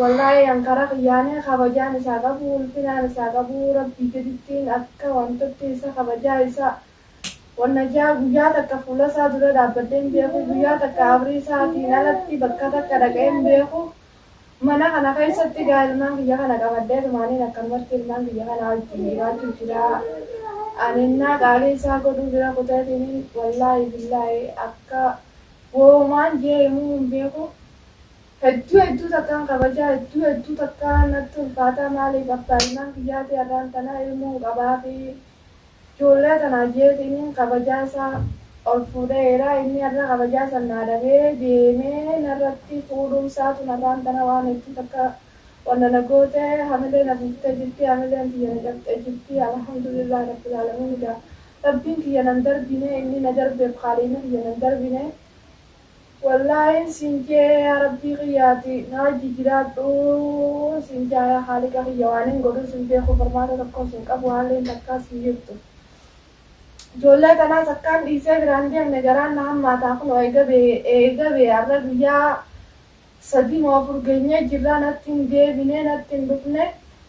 Wallaahi an karaa kiyyaani kabajaan isaa qabu ulfinaan isaa qabu rabbii gadittiin akka wantatti isa kabajaa isaa wanna jaa guyyaa takka fuula isaa dura dhaabbadhee hin beeku guyyaa takka abrii isaatiin alatti bakka takka dhaqee hin beeku mana kana keessatti gaa ilmaan kiyya kana qabadheetumaaniin akkanumatti ilmaan kiyya kanaa wajjiin jiraachuu jira an ennaa qaalii isaa godhuu bira kuteetiniin wallaahi billaahi akka woomaan jee himuu hin beeku. Hedduu hedduu takkaan kabajaa hedduu hedduu takkaan natti ulfaataa maaliif abbaa ilmaan kiyyaatii arraan tanaa ilmoon qabaafii ijoollee tanaa jeetiin kabajaa isaa ol fuudhee eeraa inni arra kabajaa san naa dhabee deemee narratti fuudhuun isaatun arraan tana waan hedduu takka wanna na goote hamilee na buuftee jirtii hamileen tiyya na cabxee jirtii alhamdulillaah rabbil aalamiin egaa rabbiin kiyya nan darbine inni na darbeef khaaliiqni kiyya nan darbine Wallaahiin siin je'ee yaa rabbii kiyya ati naa jijiraadhuu siin ja'a yaa kaaliqa kiyya waanin godhuus hin beeku furmaata tokkoos hin qabu haalliin takkaas hin jirtu ijoollee tanaas akkaan dhiisee biraan deemne garaan na hammaataa kunoo eega bee eega bee arra guyyaa sadii moo afur geenyee jirraa natti hin deebinee natti hin dhufne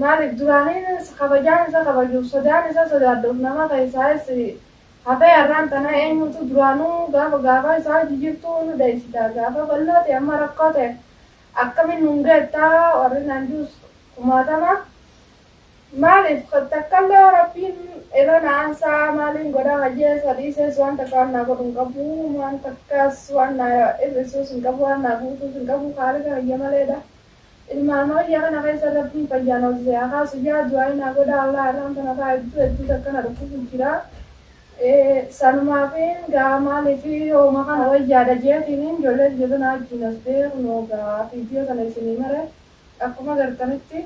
Maaliif duraaniin kabajaan isa kabajuuf sodaan isa sodaadhuuf nama keessaayis hafee har'aan tana eenyuutu duraanuu gaafa gaafaa isaa hojii jirtuu nu dheessita gaafa bal'oo ta'e amma rakkoo ta'e akkamiin nuun geetta warri naan jiruus kumaatama maaliif takkallee yoo rabbiin irra na aansaa maaliin godha hajee isa dhiisees waan takka waan naa godhu hin qabu waan takkaas waan naa hir'isuus hin qabu waan naa guutuus hin qabu kaaliqa kiyya maleedha. Ilmaan wayya kana keessa rabbiin fayyaan ol si haa kaasu yaa du'aayi naa godhaa Allah irraan tana kaa hedduu hedduu takka na dhukkubu jira sanumaafiin gaa maalifi hooma kana wayyaadha jeetiiniin ijoolleen jirru naa wajjiin hasbee kunoo gaa video tana isinii mare akkuma gartanitti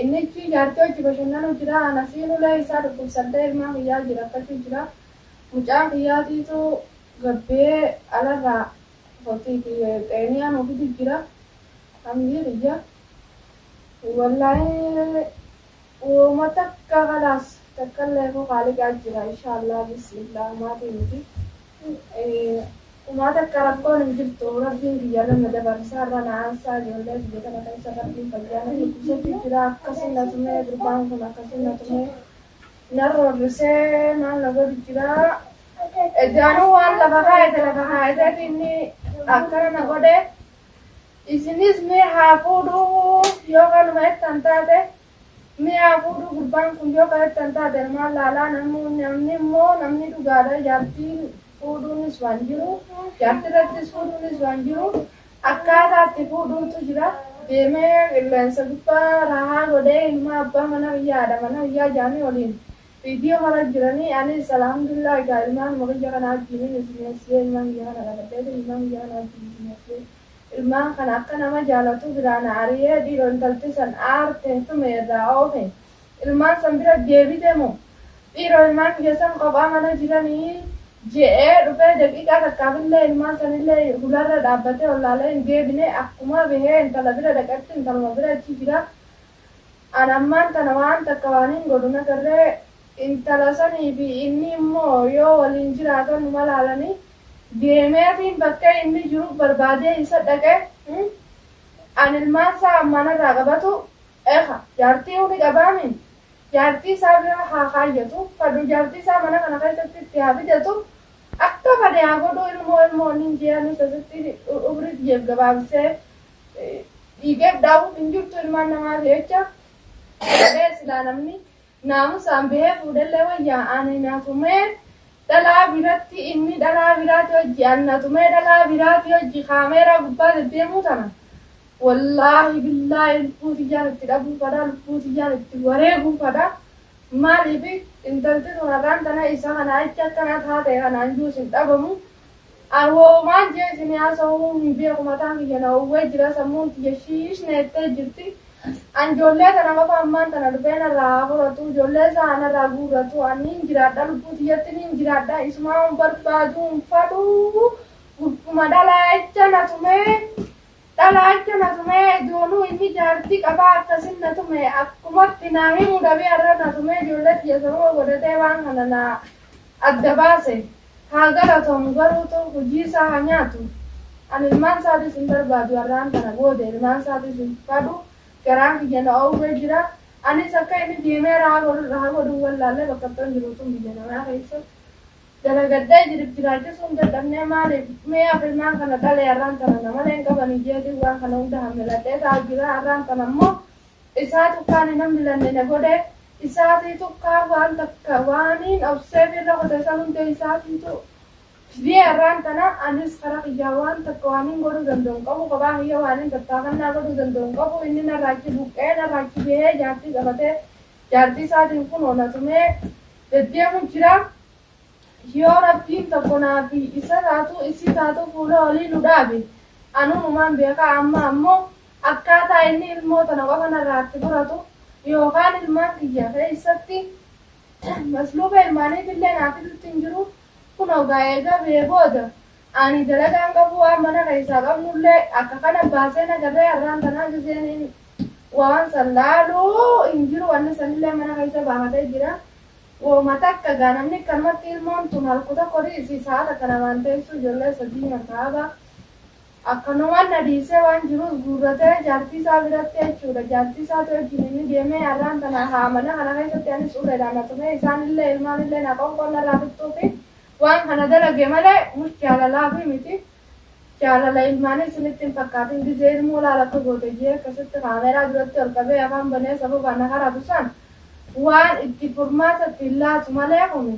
innichi jaartii wajji bashannanu jira anasiin ulee isaa dhukkubsadhee ilmaa kiyyaa wajji rakkachu jira mucaa kiyyaatiitu gabbee alarraa Kotii kiyya xeeniyaan ofitu jira hamdii kiyya hin wallaahee wooma takka kalaas takkallee koo kaaliqaa jira inshaallaa bismillah maatii nuti umaa takka rakkoon hin jirtu rabbiin kiyya irra na dabarsa irra na aansaa ijoollee kiyya tana keessa rabbiin fayyaa na dhukkubsachu jira akkasi na tumee gurbaan kun akkasi na tumee na roorrisee maal na godhu jira Ejjaanuu waan lafa kaayate lafa kaayateti inni akkana na godhe. Isinis mee haa fuudhuu yoo kanuma jettan taate mee haa fuudhuu gurbaan kun yoo kan jettan taate ilmaan laalaa namni immoo namni dhugaadha jaartiin fuudhuunis waan jiru jaartirrattis fuudhuunis waan jiru akkaataa itti fuudhuutu jira. Deemee qilleensa gubbaa raahaa godhee ilmaa abbaa mana biyyaa haadha mana biyyaa jaanii waliin Video mara jirani anis Alhamdulillah gaa ilmaanuma kiyya kana wajjiinin isinoofsiyee ilmaan kiyya kana dhaladheetin ilmaan kiyya kana wajjiin isinoofsiyee ilmaan kana akka nama jaalatu biraa na ariyee dhiiro intalti san aarte tume irraa oofe ilmaan san bira deebite moo dhiiro ilmaan kiyya san kophaa mana jirani je'ee dhufee daqiiqaa takkaafillee ilmaan sanillee hularra dhaabbatee ollaalee hin deebine akkuma bahee intala bira dhaqetti intaluma bira achi jira An ammaan tana waan takka waanin godhu nagarre, intala saniifi inni immoo yoo waliin jiraatan numa laalanii, deemeetiin bakkee inni jiru barbaadee isa dhaqe, an ilmaan isaa ammaa narraa qabatu, ekha, jaartiiyu ni qabaami, jaartii isaa bira haa kaayyatu, fadhu jaartii isaa mana kana keessatti itti haa fidatu, akka fade haa godhu, ilmoo ilmoo wannin je'e anis asitti umrii tiyya gabaabsee, dhiigeef daawuuf hin jirtu ilmaan namaa jecha jedhee silaa namni naamusaan bahee fuudhellee wayya ani na tumee dhalaa biratti inni dhalaa biraati hojji an na tumee dhalaa biraati hojji kaameeraa gubbaa deddeemuu tana wallaahi billaahi lubbuu tiyyaan itti dhabuu fadha lubbuu tiyyaan itti wareeguu fadha maaliif intalti tun har'aan tana isa kana achi akkana taate kanaan juus hin dhabamu An woumaan jee isinii hasahuu hin beeku mataan kiyya na owwee jira sammuun tiyya shiish na jettee jirti an joollee tana qofa ammaan tana dhufee narraa haa furatuu joollee isaa haa narraa guurratuu an niin jiraadha lubbuu tiyyatti niin jiraadha isumaaun barbaaduu hin fadhuu gurbuma dhalaacha na tumee dhalaacha na tumee ijooluu inni jaartii qabaa akkasin na tume akkumatti naa himu dhabee arra na tumee joollee tiyya sababa godhatee waan kana na adda baase. Haa galatomu garuu too hojii isaa haa nyaatu an ilmaan isaatis hin barbaadu arraan tana booda ilmaan isaatis hin fadhu garaan kiyya na oowwee jira anis akka inni deemee raha godhu irra haa godhuu wallaallee bakkattoon jiru tun biyya namaa keessa dalagadhee jirif jiraachisuu hin dadhabnee maaliif mee af ilmaan kana dhalee arraan tana namalee hin qabanii jeetiin waan kana hunda hammeladhee taa'u jira arraan tana immoo Isaa tukkaa nina milanne na godhe, isaatii tukkaa waan takka waaniin obseef irra kute san hundee isaatiitu fidee arraan tana anis kara kiyyaa waan takka waaniin godhuu danda'u hin qabu kophaa kiyya waaniin tattaafannaa godhuu danda'u hin qabu inni narraa achi buqqa'ee narraa achi bahee jaartii qabatee jaartii isaatiin kunoo na tumee deddeemu jira yoo rabbiin tokko naa fi isa taatuu isii taatuu fuula olii nu dhaabe anuu numaan beekaa amma ammoo Akkaataa inni ilmoo tana qofa narraa itti furatu yookaan ilmaan kiyya keessatti masluuba ilmaaniitillee naa fidutti hin jiru. Kunoo gaa eega bahee booda ani dalagaa hin qabu waan mana keessaa qabnullee akka kana baaseen agarree har'aan tana ajajeeniin waan san laalu hin jiru wanni sanillee mana keessa baafatee jira. Wooma takka gaa namni akkanumatti ilmoon tun halku tokko ri'isi sa'a takka namaan teessuu ijoollee sadii nyaata haba. Akkanumaan na dhiisee waan jiruus guurratee jaartii isaa biratti jechuu dha. Jaartii isaati wajjini ni deemee arraan tana haa mana kana keessatti anis uleedhaan na tumee isaan illee ilmaan illee naa qoonqoon narraa tuttuufi waan kana dalage malee mush jaalalaafi miti. Jaalala ilmaanii isinitti hin fakkaatin gizee ilmoo laal akka goote jee akkasitti kaameeraa duratti ol qabee afaan banee sababa na karatu san waan itti furmaata itti hin laatu malee kuni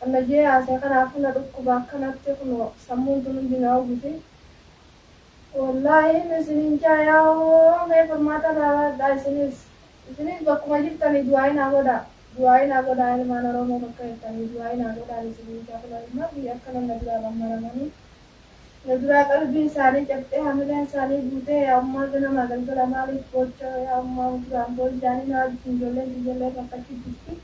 Kan na jeeaase kanaafu na dhukkuba akkanatti kuno sammuun tun hundi na hubuti wollaahi me sinin jaaya hoo me furmaata irraa baadhaa isinis isinis bakkuma jirtani du'aayi naa godhaa du'aayi naa godhaa ilmaan oroomo bakka jirtani du'aayi naa godhaan isinin jaa kuno ilmaan biyya akkanan na duraa dhammaramani Na duraa qalbiin isaanii cabxee hamileen isaanii guutee yaa ummaa ganamaa galgala maaliif boocha yaa ummaa muduraan boonjaanii na wajjiin ijoolleen tiyyallee fakkachuu jirti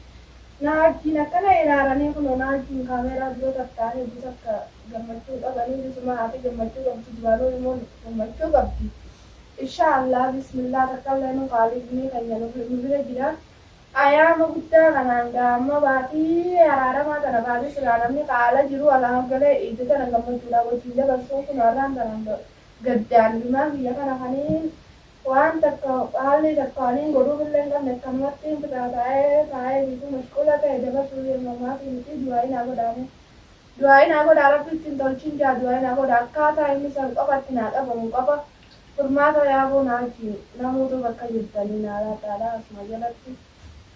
na wajjiin akkana iraaranii kunoo na wajjiin kaameeraa dura tartaa'an heddu takka gammachuu qabanii bisumaa ati gammachuu qabdu duraanuu ilmoon gammachuu qabdi inshaa allaah bismillah takkallee nu kaaliifnii keenya nu bira jira Ayaama guddaa kanaan gaamma baatii araaramaa tana kaasee silaa namni ka ala jiru alaaf galee iidda tana gammachuudhaan wajjiin dabarsu kunoo arraan tanaan gaddaan ilmaan kiyya kana kaniin waan takka haalli takka waniin godhuufillee hin qabne akkanumattiin fixaa taa'ee taa'ee biifuu mashquula ta'e dabarsuuf yeruma ammaatii miti du'aa'ii naa godhaa mee du'aa'ii naa godhaa rabbi itti hin tolchin jaa du'aa'ii naa godhaa akkaataa inni san qofa itti naa qabamu qofa Furmaata yaaboo naajii namoota bakka jirtanii naalaadhaadha asuma jalatti.